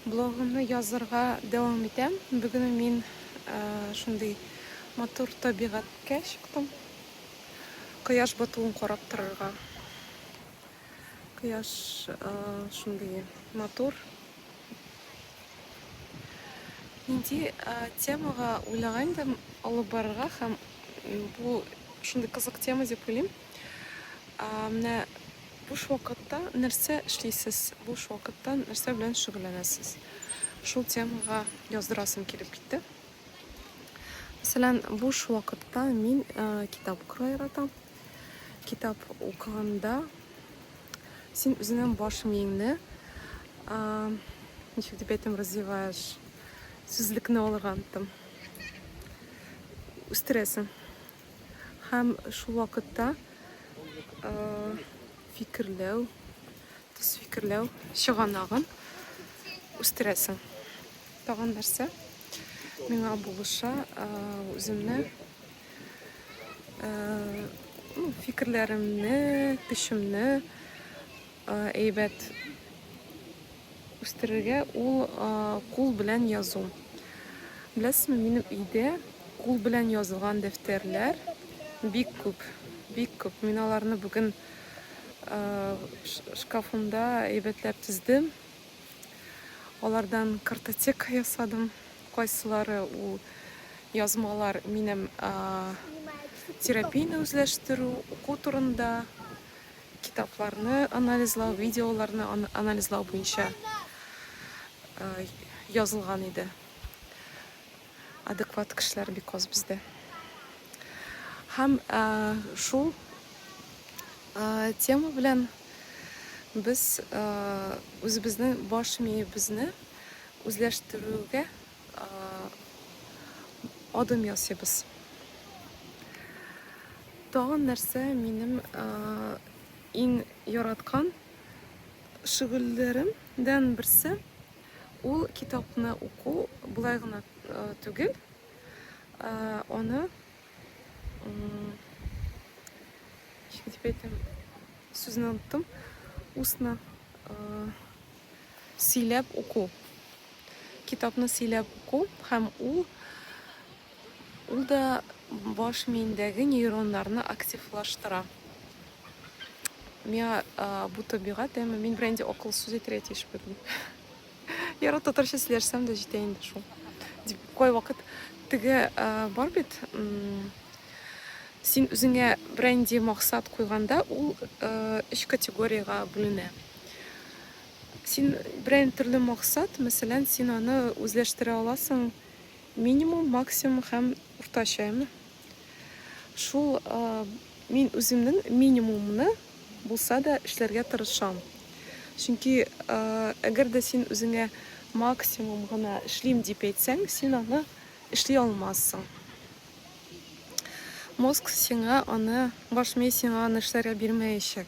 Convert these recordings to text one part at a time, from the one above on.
Блогымны язырга дәвам итәм. Бүген мин шундый матур табигатькә чыктым. Кояш батуын карап торырга. Кояш шундый матур. Нинди темага уйлаган идем алып барырга һәм бу шундый кызык тема дип уйлыйм. Ә, менә буш вакытта нәрсә эшлисез? Буш вакытта нәрсә белән шөгыльләнәсез? Шул темага яздырасым килеп китте. Мәсәлән, буш вакытта мин ә, китап укырга яратам. Китап укыганда син үзеңнең баш миеңне ә, ничек дип әйтим, развиваешь, сүзлекне алырга оныттым. Үстерәсең. Һәм шул вакытта фикерләү, төс фикерләү чыганагын үстерәсең. Тагын нәрсә? Миңа булыша үземне ну, фикерләремне, көчемне әйбәт Үстерергә ул кул белән язу. Беләсезме, минем өйдә кул белән язылган дәфтәрләр бик күп, бик күп. Мин аларны бүген шкафымда әйбәтләп тиздем. Алардан картотека ясадым. Кайсылары ул язмалар минем терапияне үзләштерү, уку турында, Китапларны анализлау, видеоларны анализлау буенча язылган иде. Адекват кешеләр бик аз бездә. Һәм шул тема белән без үзебезнең баш миебезне үзләштерүгә адым ясыйбыз. Тагын нәрсә минем иң яраткан шөгыльләремдән берсе ул китапны уку болай гына түгел, аны ничек дип әйтәм, сүзне оныттым, устно Сөйләп уку. Китапны сөйләп уку һәм ул ул да баш миендәге нейроннарны активлаштыра. Миңа бу табигать, әмма мин белән инде акыл сүз әйтергә тиеш бирдем. Яры татарча сөйләшсәм дә җитә инде шул. Дип кайвакыт теге бар бит син үзеңә бренди максат куйганда ул өч категориягә бүленә. Син берәй төрле максат, мәсәлән, син аны үзләштерә аласың минимум, максимум һәм уртача, әме. Шул мин үземнең минимумны булса да эшләргә тырышам. Чөнки әгәр дә син үзеңә максимум гына эшлим дип әйтсәң, син аны эшли алмассың. Мозг сиңа аны, баш мие сиңа аны эшләргә бирмәячәк.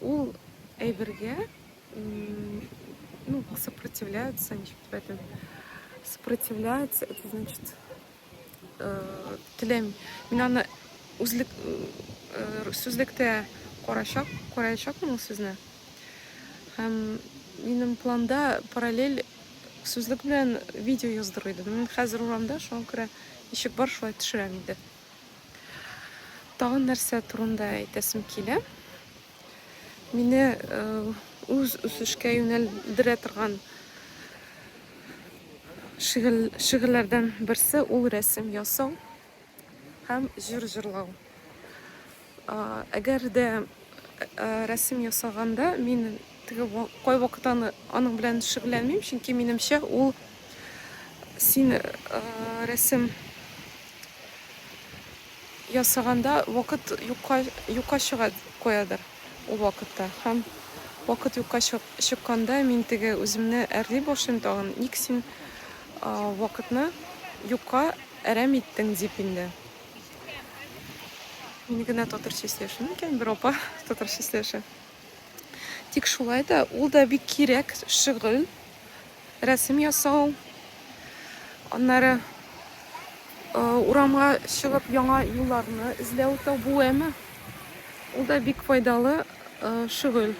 Ул әйбергә ну, сопротивляется, ничек дип әйтәм, сопротивляется, это значит, теләми. Мин аны үзлек, сүзлектә карачак, караячакмын ул сүзне. Һәм минем планда параллель сүзлек белән видео яздыру иде. Мин хәзер урамда, шуңа күрә ишек бар, шулай төшерәм инде. Тагын нәрсә турында әйтәсем килә. Мине үз үсешкә юнәлдерә торган шигырьләрдән берсе ул рәсем ясау һәм җыр җырлау. Әгәр дә рәсем ясаганда мин теге кайвакыт аны аның белән шөгыльләнмим, чөнки минемчә ул син рәсем ясаганда вакыт юкка юкка чыга куядыр ул вакытта һәм вакыт юкка чыкканда мин теге үземне әрли башлыйм тагын ник син вакытны юкка әрәм иттең дип инде Мин генә татыр числеше микән, бер апа татыр числеше. Тик шулай да ул да бик кирәк шөгыль. Рәсем ясау. Аннары э, урамга чыгып яңа юлларны эзләү табу әме. Ул да бик файдалы э, шөгыль.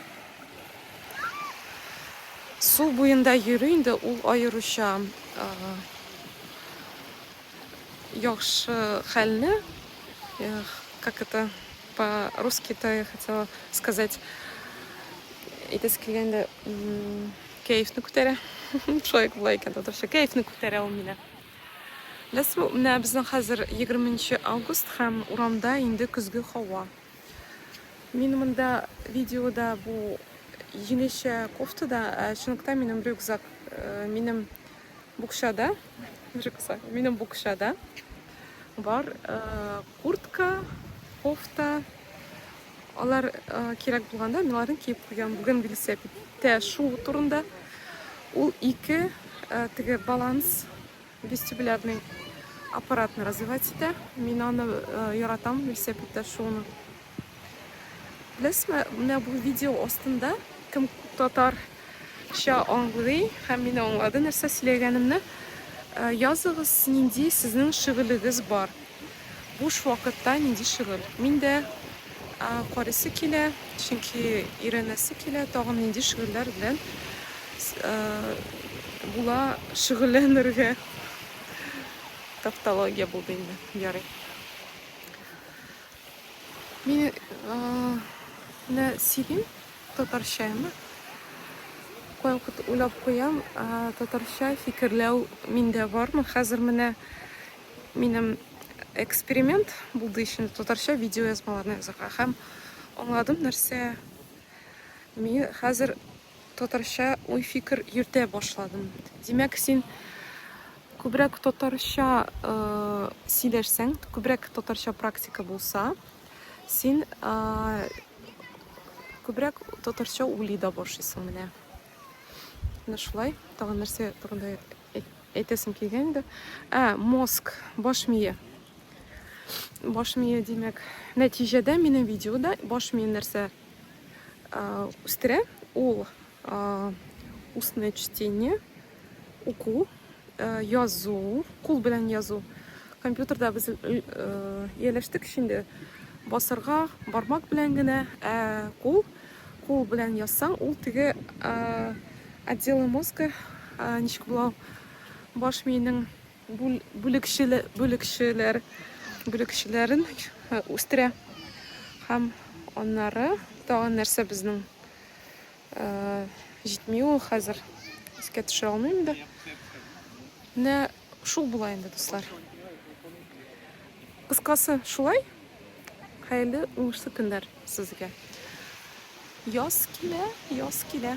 Су буенда йөрү инде ул аеруча э, яхшы хәлне, эх, как это по-русски-то я хотела сказать, әйтәсе килгәндә, кәефне күтәрә. Шулай болай икән татарча, кәефне күтәрә ул мине. Беләсезме, менә безнең хәзер 20 август һәм урамда инде көзге һава. Мин монда видеода бу җилешә кофтада, ә чынлыкта минем рюкзак, э, минем Букчада, уже кыса, минем букчада бар э, куртка, кофта, алар э, кирәк булганда мин аларны киеп куям. Бүген велосипедтә шуу турында ул ике э, теге баланс вестибулярный аппаратны развивать итә. Мин аны э, яратам велосипедтә шууны. Беләсезме, менә бу видео астында кем татарча аңлый һәм мине аңлады, нәрсә сөйләгәнемне, э, языгыз, нинди сезнең шөгылегез бар. Буш вакытта нинди шөгыль? Мин дә карыйсы килә, чөнки өйрәнәсе килә, тагын нинди шөгыльләр белән э, була шөгыльләнергә. Тавтология булды инде, ярый. Мин менә сөйлим татарча ме? Кайвакыт уйлап куям, татарча фикерләү миндә бармы? Хәзер менә минем эксперимент булды өчен татарча видео язмаларны язарга һәм аңладым нәрсә. Мин хәзер Татарча уй-фикер йөртә башладым. Димәк, син күбрәк татарча сөйләшсәң, күбрәк татарча практика булса, син күбрәк татарча уйлый да башлыйсың менә. Менә шулай. Тагын нәрсә турында әйтәсем килгән иде. Ә, мозг, баш мие. Баш мие, димәк, нәтиҗәдә минем видеода баш мие нәрсә үстерә, ул устное чтение, уку, язу, кул белән язу. Компьютерда без ияләштек инде басырга бармак белән генә, ә кул кул белән язсаң, ул теге отделы мозга ничек була баш миенең бүлекчәләр бүлекчәләрен үстерә. Һәм аннары тагын нәрсә безнең җитми ул хәзер искә төшә алмыйм да. Менә шул була инде, дуслар. Кыскасы, шулай. Хәерле уңышлы көннәр сезгә. Яз килә, яз килә.